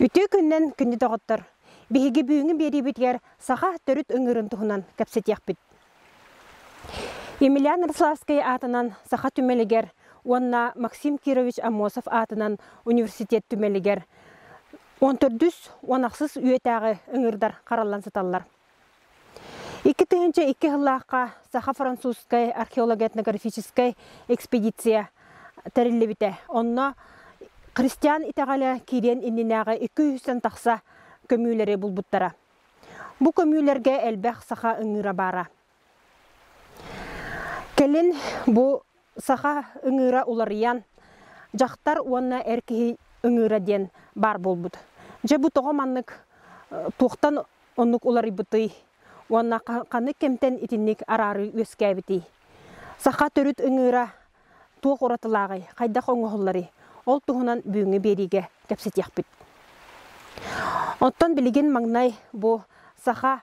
Үтүө күннэн күндү доҕоттор! Биһиги бүгүҥҥү биэриибитигэр саха төрүт ыҥыырын туһунан кэпсэтиэхпит. Емельян Рославскай аатынан саха түмэлигэр уонна Максим Кирович Амосов аатынан университет түмэлигэр 14 уон ахсыс үйэтээҕи ыҥыырдар хараллан сыталлар. Икки тыһыынча икки сыллаахха саха-французскай археологетнографическай экспедиция тэриллибитэ. Онно Христиан итэҕэлэ киириэн иннинээҕи икки-үһүстэн тахса көмүүлэри булбуттара. Бу көмүүлэргэ элбэх саха ыҥыыра баара. Кэлин бу саха ыҥыыра уларыйан дьахтар уонна эр киһи ыҥыыра диэн баар буолбут. Дьэ бу тоҕо маннык туохтан оннук уларыйбытый уонна ханнык кэмтэн итинник араарыы үөскээбитий? Саха төрүт ыҥыыра туох уратылааҕый, хайдах оҥоһулларый? Ол туһунан бүгүҥҥү биэриигэ кэпсэтиэхпит. Оттон билигин маҥнай бу саха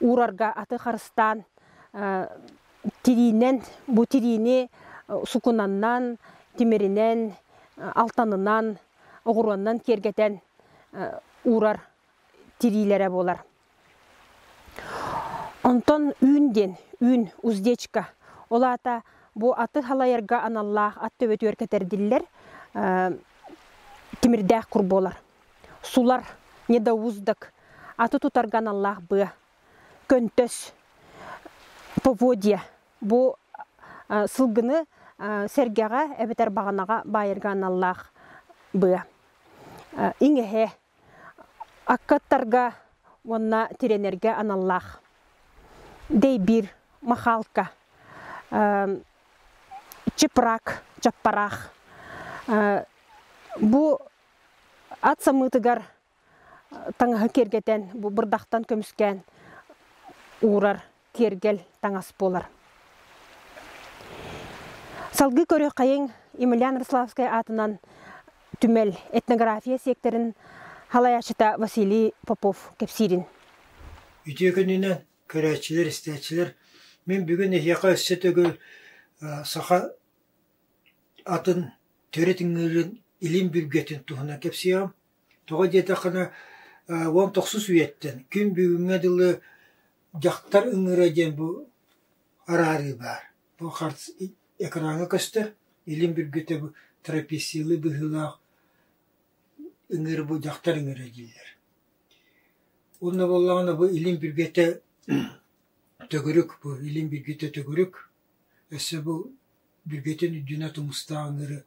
Уурарга аты харыстаан тириинэн, бу тириини сукунаннаан, тимиринэн, алтанынан, оҕуруоннан киэргэтэн уурар тириилэрэ буолар. Онтон үүн диэн үүн, уздечка. Ол аата бу аты халайарга аналлаах ат төбөтүгэр кэтэрдиллэр тимирдээх кур буолар. сулар, недоуздок, аты тутарга аналлаах быа, көнтөс, поводья бу сылгыны сэргэҕэ эбэтэр баҕанаҕа баайарга аналлаах быа. Иҥэһэ, аккаттарга уонна тирэнэргэ аналлаах. Дэйбиир, махаалка, чыпраак, чаппараах. Бу Ат самыытыгар таҥаһы киэргэтэн, бу бырдахтан көмүскээн уурар киэргэл таҥас буолар. Салгыы көрүөххэйиҥ Емельян Рославскай аатынан түмэл этнография сиэктэрин салайааччыта Василий Попов кэпсиирин. Үтүө күнүнэн, көрөөччүлэр, истээччилэр! Мин бүгүн эһиэхэ өссө төгүл саха Атын, төрүт ыҥыырын, илин бүргэтин туһунан кэпсиэҕим. Тоҕо диэтэххинэ, уон тохсус үйэттэн күн бүгүҥҥэ дылы дьахтар ыҥыыра диэн бу араарыы баар. Бу харс экраҥҥа көстөр, илин бүргүтэ бу трописсилы быһыылаах ыҥыыр бу дьахтар ыҥыыра дииллэр. Уонна буоллаҕына бу илин бүргэтэ төгүрүк, бу илин бүргүтэ төгүрүк. Өссө бу бюджетин үрдүнэ тумустаах ыҥыыры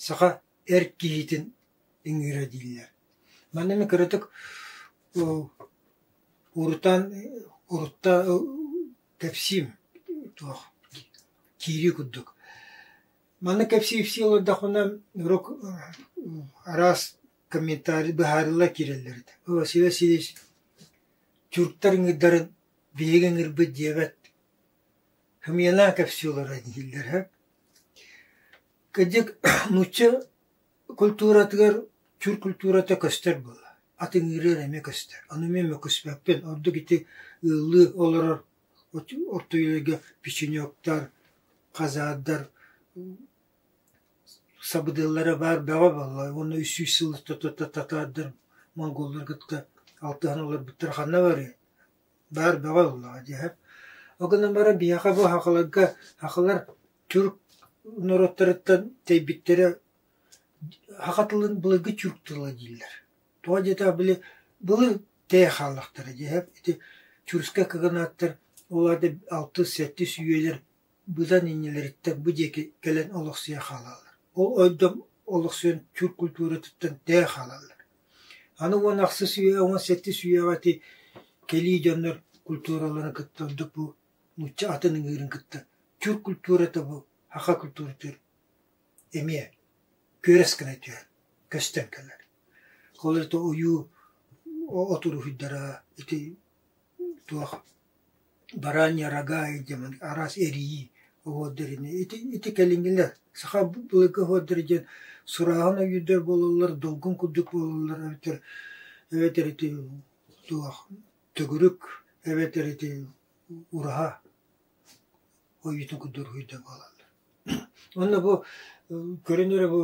саха эр киһитин ыҥыыра дииллэр. Манна эмиэ кыратык урутаан урутта кэпсиим туох киирии курдук. Маннык кэпсии-ипсии олордохпуна урут араас комментарий быһаарылла киирэллэр этэ. О, Василий Васильевич, тюрктар ыҥыырдарын биһиги ыҥыырбыт диэбэт Хамыйана кэпсиилэрэ дииллэрэ кырдьык нуучча культуратыгар чур культурата көстөр буолла атыҥыырыгар эмиэ көстөр аны эмиэ мөккүспэппин ордук ити ыаллыы олорор ортоюларга печенектар хазардар сабыдыаллара баар бөҕө буолла уонна үс сүүс сыл татаардар монголлар кытта алтыһан олорбуттара ханна барыай Баар бөҕө ыллаҕа дии, ол гынан баран биһиэхэ бу Хахаларга Хахалар тюрк норуоттарыттан тэйбиттэрэ Саха тылын былыргы тюрк тыла дииллэр. Тоҕо диэтэр били былыр тэйэ хааллахтара дии, ити тюркскай кыгынааттар ол аата алтыс, сэттис үйэлэр быдан иннилэриттэн бу диэки кэлэн олохсуйа хаалаллар. Ол ойдом олохсуйан чур культуратыттан тээ хаалаллар. Аны уон ахсыс үйэ уон сэттис үйэҕэ ити кэлии дьоннор культураларын кытта ордук бу нуучча атын ыҥыырын кытта чур культурата бу аха культуратыыр эмиэ күөрэс гына түһэр, көстөн кэлэр. Ол ойуу отуруһуйдара ити Туох баранья, рогая диэн араас эрийии оһуордэринэ ити ити кэлиҥҥилэ саха благоһуордара диэн сурааһын өйүүрдэр буолаллар, долгун курдук буолаллар эбэтэр эбэтэр ити туох төгүрүк эбэтэр ити ураһа ойуутун курдук уруһуйдуо буолаллар. Уонна бу көрөн эрэ бу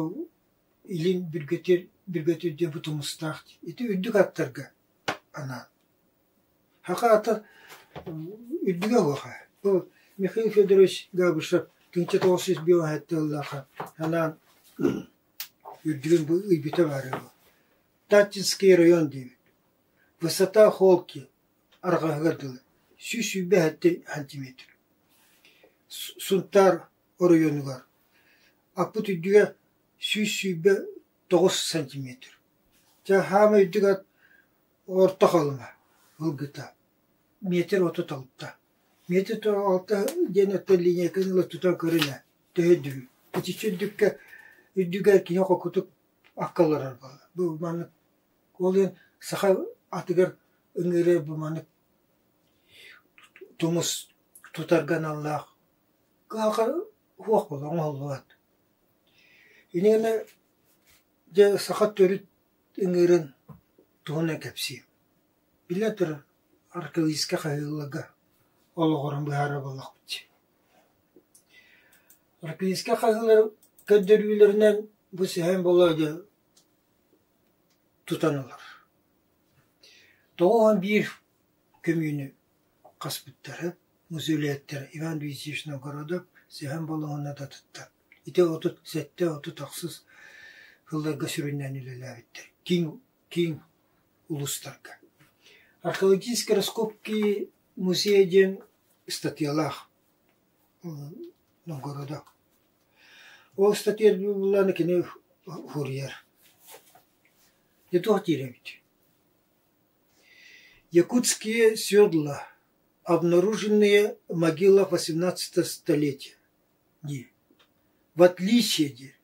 илин бүргэтиир бүргэтиир диэн бу тумустаах ити үрдүк аттарга анаан Хахаата үрдүгэ уоха, бу Михаил Федорович Габышев кинчэ тоҕус сүүс биэс тыыллаахха анаан үрдүгүн бу ыйбыта баара үһү. Татинский район диэбит. Высота холки арҕаһыгар дылы, сүүс сүүрбэ сэттэ сантиметр. Сунтаар оройуонугар аппыт үрдүгэ сүүс сүүрбэ тоҕус сантиметр. Дьэ, хаама үрдүк ат Орто Халыма ылгыта, метр отут алта. Метр отут алта диэн оттон линейканы ыла тутан көрүнэ төһө үрдүүй? Итиччэ үрдүккэ үрдүгэр кини холкутук акка олорор буолла. Бу маннык ол иһин саха атыгар ыҥыыры бу маннык тумус тутарга аналлаах кыһалҕа суох буолла, оҥоһуллубат. Ини гэнэ Дьэ, саха төрүт ыҥыырын туһунан кэпсиим. Биллэн турар, архивистка хаһыыларга олоҕуран быһаарыллыбалахпыт. Архивистка хаһыылар көрдөрүүлэринэн бу сэһэн болоодьо тутан ылар. Тоҕус уон биир көмүүнү хаспыттара, мусулиаттар Иван Ильичич Новгородов сэһэн болоһуна да тутта Ити отут сэттэ отут охсус сылларга сүрүннээн үлэлээбиттэр киин киин улуустарга. Археологический раскопки музея диэн ыстатыйалаах Новгорода. Ол ыстатыйа буоллаана кини уһуруйар. Дьэ туох диэрэбит? Якутские седла, обнаруженные в могилах XVIII столетия. Не, в отличие де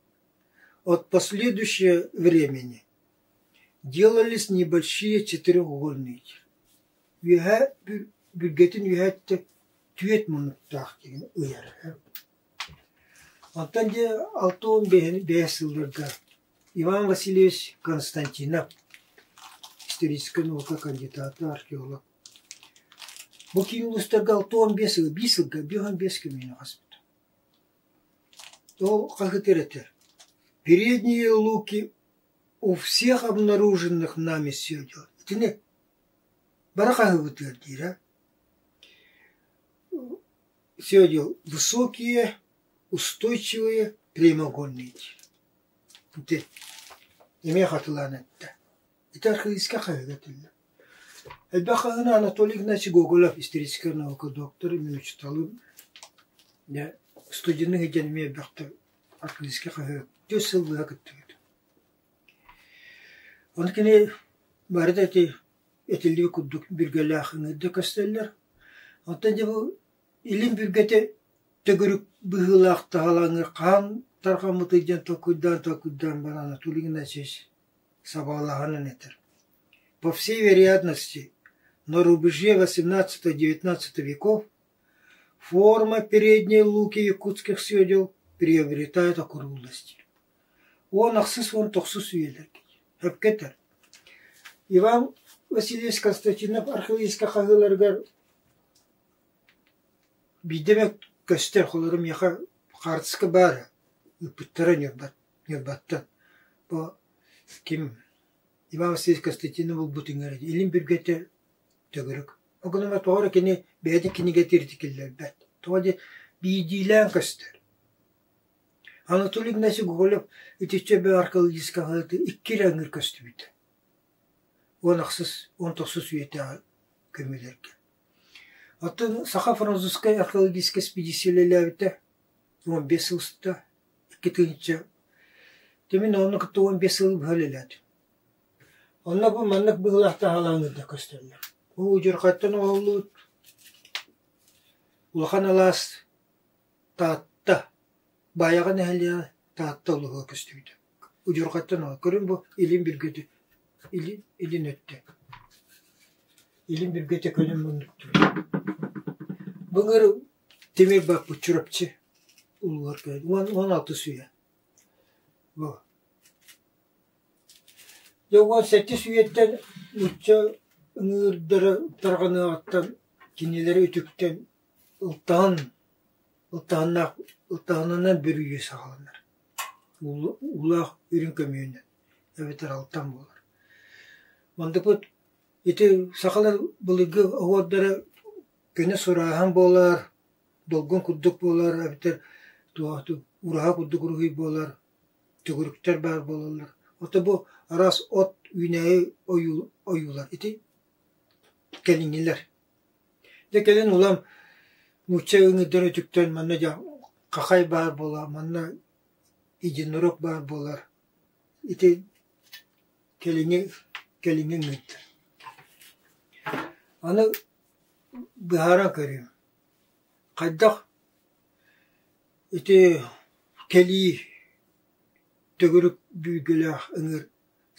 от последующего времени, делались небольшие четырехугольнуйдар, үөһээ бүргэтин үһээттэ түөрт муннуктаах диэн ыйар. Оттон дьэ алта уон бэс сылларга Иван Васильевич Константинов историческай наука кандидата, археолог Бу киин улуустарга алта уон биэс сыл, биир сылга биэс уон биэс көлүөнэ хаспыт. Ол как это это? Передние луки у всех обнаруженных нами все дело. Итини бары хаһыыбытыгар диирэ. Все дело высокие, устойчивые, прямоугольные диир. Ити эмиэ хатылаан эттэ. Ити архаическай хаһыыга этиллэр. Элбэх хаһыыны Анатолий Игнатьевич Гоголев историческай наука доктор, эмиэ учууталым. Дьэ, студенын иһдьэн эмиэ элбэхтик архаическай хаһыы түөрт сыл быһа кыттыбыт. Ону кини бары да ити этиллибит курдук бүргэлээх ыҥыырда көстөллөр. Оттон дьэ бу илин бүргэте төгүрүк быһыылаах таһалаҥы хаан тархаммыт ыйдьан толкуйдаан толкуйдаан баран Анатолий Игнатьевич Соболоҕон этэр: «По всей вероятности, на рубеже XVIII-XIX веков форма передней луки якутских седел приобретает округлость». Уон ахсыс уон тохсус үйэлэр эпкэтэр. Иван Васильевич Константинов архивистка хаһыыларыгар биирдэ эмэ көстөр, холоро миэхэ хаартыска баара ыыппыттара ньырбат Ньырбаттан бу ким Иван Васильевич Костянтины булбут иҥэрэ илин бүргэтэ төгүрүк. Ол гынан тоҕо эрэ кини бэйэтин кинигэтииртик киллэрбэт. Тоҕо диэн биирдиилээн көстөр. Анатолий Игнатьевич Гоголев итиччэ эбээ археологическаҕа икки эрэ ыҥыыр көстүбүтэ. Уон ахсыс, уон тохсус үйэтээҕи көмүлэргэ. Оттон Саха французскай археологическай эспедиция үлэлээбитэ. уон биэс сыл устата икки тыһыынча тимин онно кытта уон биэс сыл быһа үлэлээтим. Онно бу маннык быһыылаах таһаалаан ыырда көстөллөр. Бу удьурхаттан оҥоһуллубут улахан алаас Таатта, Баайаҕа нэһилиэгэ Таатта улуһуга көстүбүтэ. Удьурхаттан оҥоһуллубут. Көрүҥ бу илин бүргөтү илин, илин өттө. Илин бүргөтө көнөн муннуктур. Былыр Тимирбэ Учурапчы уулугар кэлбит, уон уон алтыс үйэ. Бу. Дьэ уон сэттис үйэттэн нуучча ыҥыырдара тарҕаныаҕыттан кинилэри үтүктэн ылтаһан ылтаһыннаах ылтаһынынан бүрүйэ саҕаланар. Уулу- уулаах үрүҥ көмүөнүнэн эбэтэр алтан буолар. Мандыкпыт ити сахалар былыргы оһуордара Күнэ сурааһын буолар, долгун курдук буолар эбэтэр ураһа курдук уруһуй буолар, төгүрүктэр баар буолаллар. Ото бу араас от үүнээйи ойуулар ити кэлиҥҥилэр. Дьэ кэлин улам нуучча өҥүдэр өтүктэн манна дьэ хахай баар буола, манна единорог баар буолар. Ити кэлиҥҥи кэлиҥҥи өҥүт. Аны Быһара көрүөм, хайдах ити кэлии төгүрүк бүүргүлээх ыҥыыр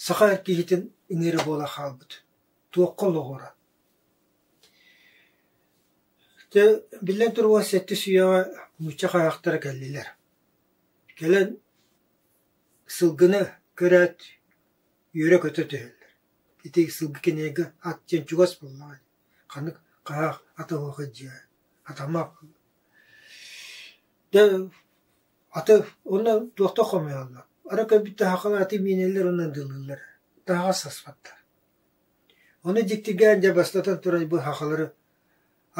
саха эр киһитин ыҥыыра буола хаалбыт, туохха олоҕура? Дьэ, биллэн туругар сэттис үйэҕэ нуучча хайаахтара кэллилэр. Кэлэн сылгыны көрөөт үөрэ-көтө түһэллэр Ити сылгы кинигэ ат диэн чугас буоллаҕа. Ханнык хаһаах атылыахый дьиэ, атамах. Да аты уонна туохта хомуйаллар. Ара көрбүт таһаҕал аты миинэлэр уонна дылылар. Таһаҕас саспаттар. Ону дьиктиргээн дьэ бастатан туран быһахалары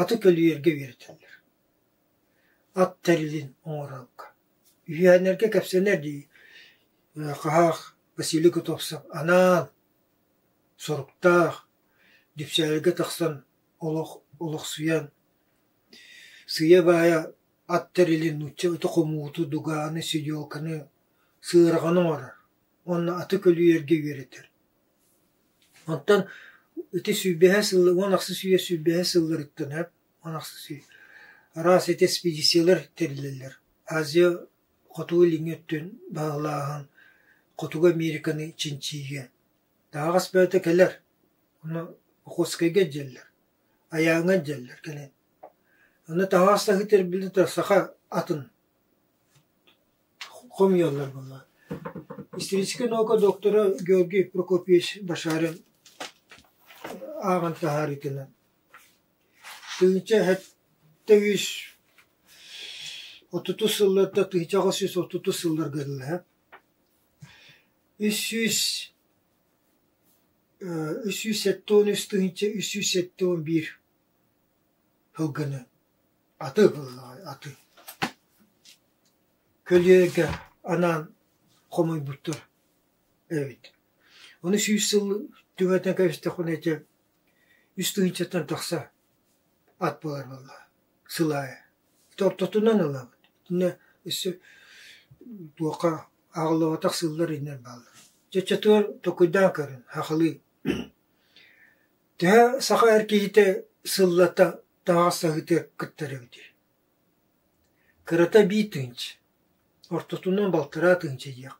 аты көлүйэргэ үөрэтэллэр. Ат тэрилин оҥорорго. Үһүөннэргэ кэпсэнэр дии хаһаах Василий Готовцев анаан соруктаах, Дүпсээлгэ тахсан олох олохсуйан, сыыйа-баайа ат тэрили, нуучча ыты хомууту, дугааны, сидёлканы, сыарҕаны оҥорор уонна аты көлүйэргэ үөрэтэр. Онтон ити сүүрбэһэ сылы уон ахса сүүрэ сүүрбэһэ сылларыттан эп уон ахса сүүр араас эти эспэдииссийэлэр тэрилэллэр. Азия Хоту илиҥҥи өттүн баһылааһын Хотугу Американы чинчийиигэ таһаҕас бэйэтэ кэлэр, ону Охотскайга илдьэллэр, Айааҥҥа илдьэллэр кэлэн. Аны таһаҕастаһыы тэрилинэ саха атын хомуйаллар буолла. Историческай наука доктора Георгий Прокопьевич Башарин ааҕан таһаарыытынан Тыһыынча сэттэ сүүс отутус сылларга тыһыынча аҕыс сүүс отутус сылларга гыннаһа үс сүүс үс сүүс сэттэ уон үс тыһыынча үс сүүс сэттэ уон биир сылгыны аты аты көлүөнэгэ анаан хомуйбуттар эбит. Ону сүүс сыл түҥэтэн кэбистэхпинэ ити Үс тыһыынчаттан тахса ат буолар буолла сыл аайы. Тортотунан ылабыт. Иннэ өссө туохха аҕаллыбатах сыллар иннэр бааллар. Чаччатыгар токуйдаан көрөн хахалыы. Төһө саха эр киһитэ сыллата таҥас аһыытыгар кыттар эбитий? Кырата биир тыһыынча. Ортотунан балтараа тыһыынча диэх.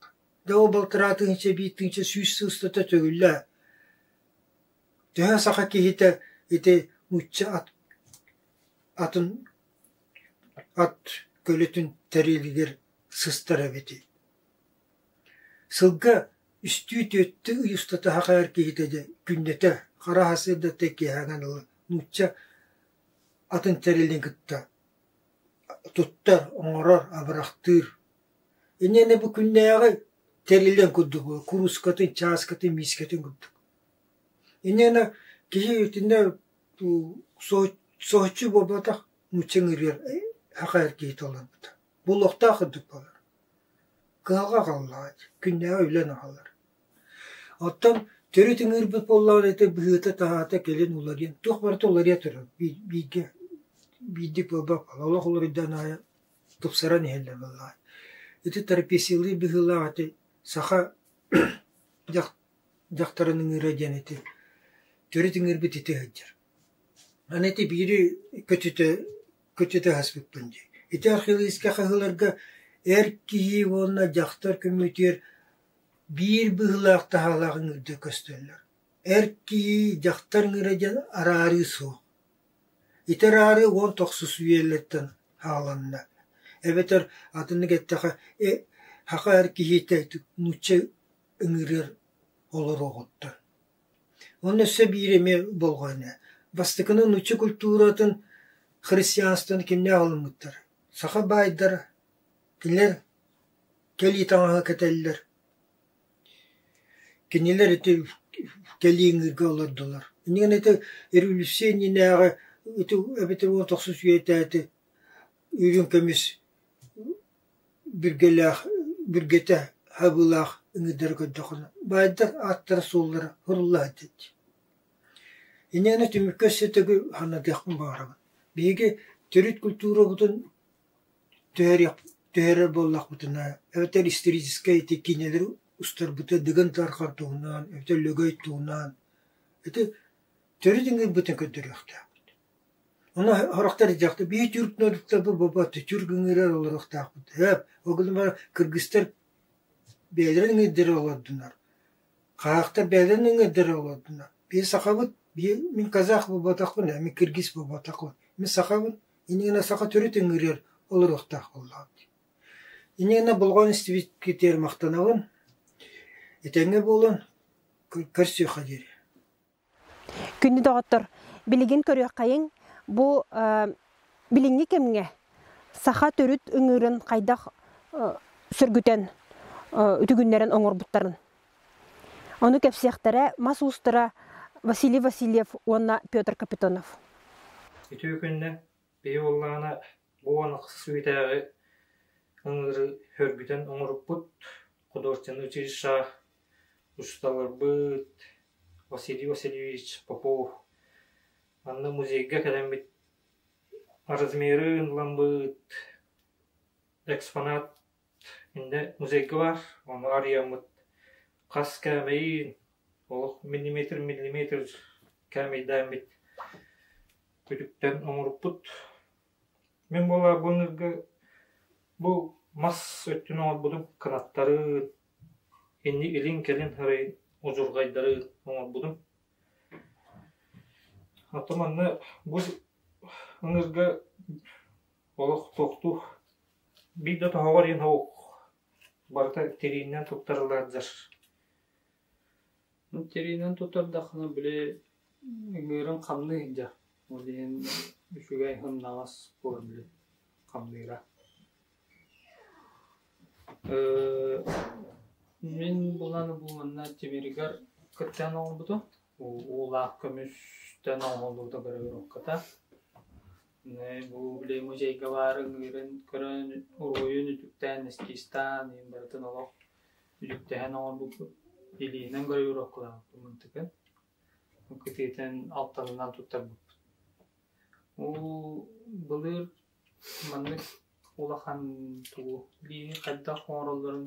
Да ол балтараа тыһыынча биир тыһыынча сүүс сыл устата төгүллээ. Төһө саха киһитэ ити нуучча ат атын ат көлүтүн тэриилигир сыстар эбитий Сылга үстүү түөртүү ый устата саха эр киһитэ дьэ күннэтэ хара сырдатта киэһээҥҥин ыла нуучча атын тэрилин кытта туттар, оҥорор, абырахтыыр Иннинэ бу күннээҕи тэриллэн курдук куруускатын, чааскатын, миискэтин курдук. Иннинэ киһи итиннэ соһуччу буолбатах нуучча ыҥырыар акаар киһи толорбута. Буолуохтаах курдук буолар. Кыһалҕа аҕаллаҕыт, күннээҕи үлэн аҕалар. Оттон төрүт ыҥыырбыт буоллаҕына ити быһыыта-таһаата кэлин уларыйан, туох барыта уларыйа турар. Бииргэ биирдик буолбат буолар, олох уларыйдан аайы тупсаран иһэллэр буоллаҕа. Ити терапевтилыы быһыылаах ити саха дьахтарын ыҥыыра диэн ити төрүт ыҥыырбыт ити сылдьар. Аны ити биири көтүтэ көтүтэ аспыппын дии. Ити археологическай хаһыыларга эр киһи уонна дьахтар көмүтүөр биир быһыылаах таһаалаах ыҥыырда көстөллөр. Эр киһи дьахтар ыҥыыра диэн араарыы суох. Ити ыраары уон тахса үөллэттэн хааланна, эбэтэр атыннык эттэхэ, саха эр киһитэ нуучча ыҥырыар олороҕуттан. Онно өссө биир эмиэ болҕойно: бастакыны нуучча культуратын, христианствоны кимнээх ылыммыттар? Саха баайдара, кинилэр кэлии таҥаһы кэтэллэр. Кинилэр ити кэлии ыҥыырга олордулар. Инигин ити революция иннинээҕи ити эбэтэр уон тахса үчүгэйдээти үрүҥ көмүс бүргэлээх бүргэтэ хабыылаах ыҥыырдары көрдөххүнэ баайдар ааттара-суоллара суруллаат диэччи. Инигин ити түмүккэ өссө төгүл ханна диэхпин баҕарабын. Биһиги төрүт культурабытын түһэрэр буоллахпытына, эбэтэр историческай ити киинэлэри устарбыта дыгын тарҕар туһунан, эбэтэр лөгөй туһунан ити төрүт ыҥыырбытын көрдөрүөхтээхпит. Ону сорохтор дьахтар бии тюрк нолуктарбыт бобоотто тюрк ыҥыырар олоруохтаахпыт. Өөп, ол гынан кыргыстар бэйэлэрин ыҥыырдара олордунар. Хаахтар бэйэлэрин ыҥыырдара олордунар. Бии сахабыт, бии мин казах буботахпын, мин кыргыз буботахпын. Мин сахабын, Иниэнэ саха төрүт ыҥырыар олоруохтаах буоллаҕыҥ дии. Иниэнэ болҕойон истибикитигэр махтанабын. Этэҥҥэ буолун, көрсүөххэ диэри. Күндү доҕоттор, билигин көрүөххэйиҥ бу билиҥҥи кэмҥэ саха төрүт ыҥыырын хайдах сөргүтэн үтүгүннэрэн оҥорбуттарын. Ону кэпсиэхтэрэ мас уустара Василий Васильев уонна Петр Капитонов. Үтүө күннэ биһи уллаана бу уон ахсыс үүтээҕи ыҥыры хөргүтэн оҥоруппут художественный училища учууталларбыт Василий Васильевич Попов манна музейга кэлэммит размерын ламбыт экспонат Иннэ музейга баар, ону арыйаммыт. Хас кээмэйин, олох миллиметр миллиметр кээмэйдээммит күтүктэн оҥоруппут. Мин буолаарбыннарга бу мас өттүн оҥорбутум кынаттарын, инни илин-кэлин арыйын удьурҕайдарын оҥорбутум. Оттон манна бу ыҥырга олох туохтуу Биир да тоһоҕор иһин уһук барыта тириининэн туттарыллардар Ну, тириинэн туттардаххына, били, ыҥыырын хамныы иһдэ. Ол иһин үчүгэй һымнаҕас буолар били хамныыра. Э, мин булан-бу манна Тимиригэр кыттыһан оҥорбутум. Уу- Уулаах көмүстэн оҥоһуллубута көрөбүн окката. бу били музейга баарын ыйыран көрөн уруһуйун үтүктээн эскизтаан иһин барытын олох үтүктэһэн оҥорбуппут илиинэн гравировкалаабыппын тыкан кытыытын алтанынан туттарбыппыт уу былыр маннык улахан тугу илиини хайдах оҥороллорун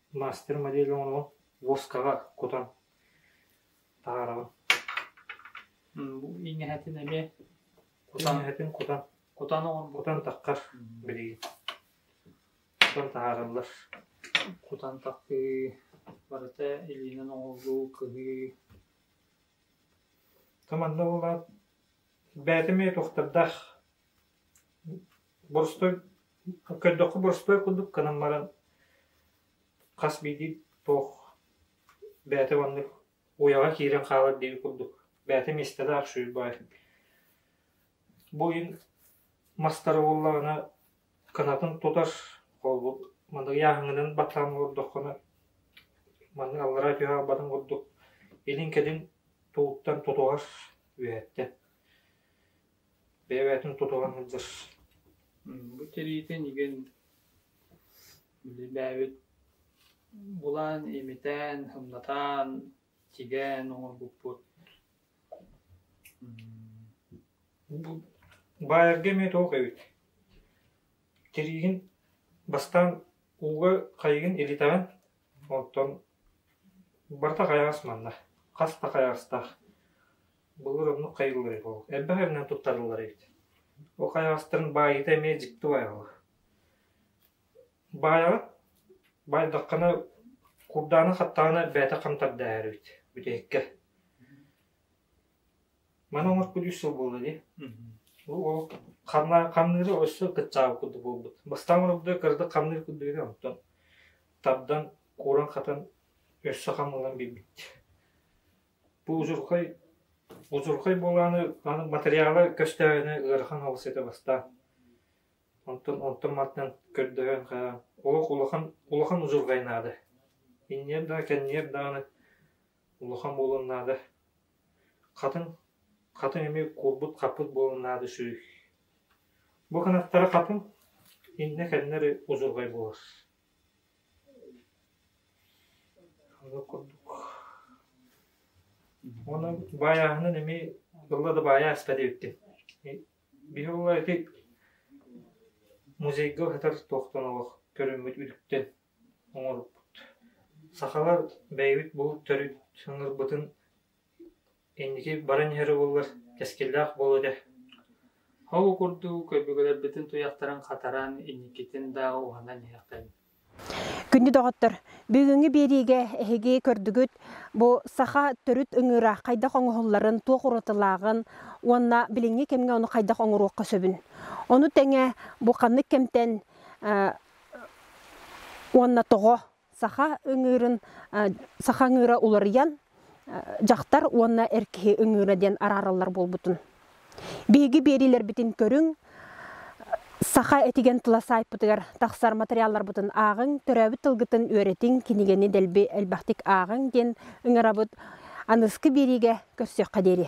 Мастер модель оҥорон, воскаҕа кутан таһаараҕын. Бу иҥэһэтин эмиэ кутан иҥэһэтин кутан кутан кутан таххар билигин кутан таһаараллар. Кутан тахтыы барыта илиинэн оҥоһуллуу, кыһыы. Та манна буолаат бээтим эмиэ туохтардаах Боростуой, көрдөххө боростуой курдук гынан баран хас биирдии туох бэйэтэ маннык уйаҕа киирэн хаалар диэри курдук бэйэтэ миэстэ да аршуйбай. Бу ойун мастары буллаҕына канатын тутар холбут маннык ааһыҥынан батаан олордоххуна маннык аллараа түһэ албатын курдук илин-кэлин тууттан тутуһар үөһэттэн бэйэбитин тутуһан сылдьар Бу тириитин игин үлэлээбит булан, имитэн, сымнатан, тигээн оҥорбуппут Баайарга эмиэ туох эбит тириигин бастаан ууга хайыгын илитэҕин оттон барыта хайаҕас манна хас да хайаҕастаах Былыр оннук хайыллар эбит ол. Элбэх эминэн туттарыллар эбит. Ол хайаҕастарын баайыыта эмиэ дьикти баайаҕа. Баайаҕа баайдаххына курдаана хаттаҕына бэйэтэ хантардааһар эбит бүтэһиккэ. Маны оҥорбут үс сыл буолла дии. Ол хамныыра өссө кыччаабыт курдук буолбут. Бастаан орогдо кырдык хамныыр курдук edi онтон тардан кууран хатан өссө хамылан билбит. Бу удьурхай удьурхай буолааны аны матырыйаала көстөөһүнэ ыарахан аҕыс этэ бастаан. Онтон онтон мантан көрдөһөн хаһаан олох улахан улахан удьурхай наада. Инниэр даҕа кэнниэр даҕаны улахан буолуон наада. Хатын хатын эмиэ курбут хаппыт буолуон наада сүрүй. Бу кынаттара хатын иннэ кэннэри удьурхай буолар Уонна баайааһынын эмиэ тылла да баайааста диэбиттэр. Биһиги ити музейга сытар туохтан олох көрүммүт үтүктэн оҥоруппут. Сахалар бэйэбит булут төрүт ыҥырбытын Инники баран иһэр уоллар кэскиллээх буолуо этэ Ол курдук өбүгэлэрбитин туйахтарын хатаран, инникитин дааҕы уһанан иһиэхтэрин Күндү доҕоттор, бүгүҥҥү биэриигэ эһиги көрдүгүт бу саха төрүт ыҥыыра хайдах оҥоһулларын, туох уратылааҕын уонна билиҥҥи кэмҥэ ону хайдах оҥоруохха сөбүн. Ону тэҥэ бу ханнык кэмтэн уонна тоҕо саха ыҥыырын саха ыҥыыра уларыйан дьахтар уонна эр киһи ыҥыыра диэн араараллар буолбутун биһиги биэриилэрбитин көрүҥ саха этигэн тыла саайпытыгар тахсар материалларбытын ааҕыҥ төрөөбүт тылгытын үөрэтиҥ кинигэни дэлби элбэхтик ааҕыҥ диэн ыҥырабыт аныгы биэриигэ көрсүөххэ диэри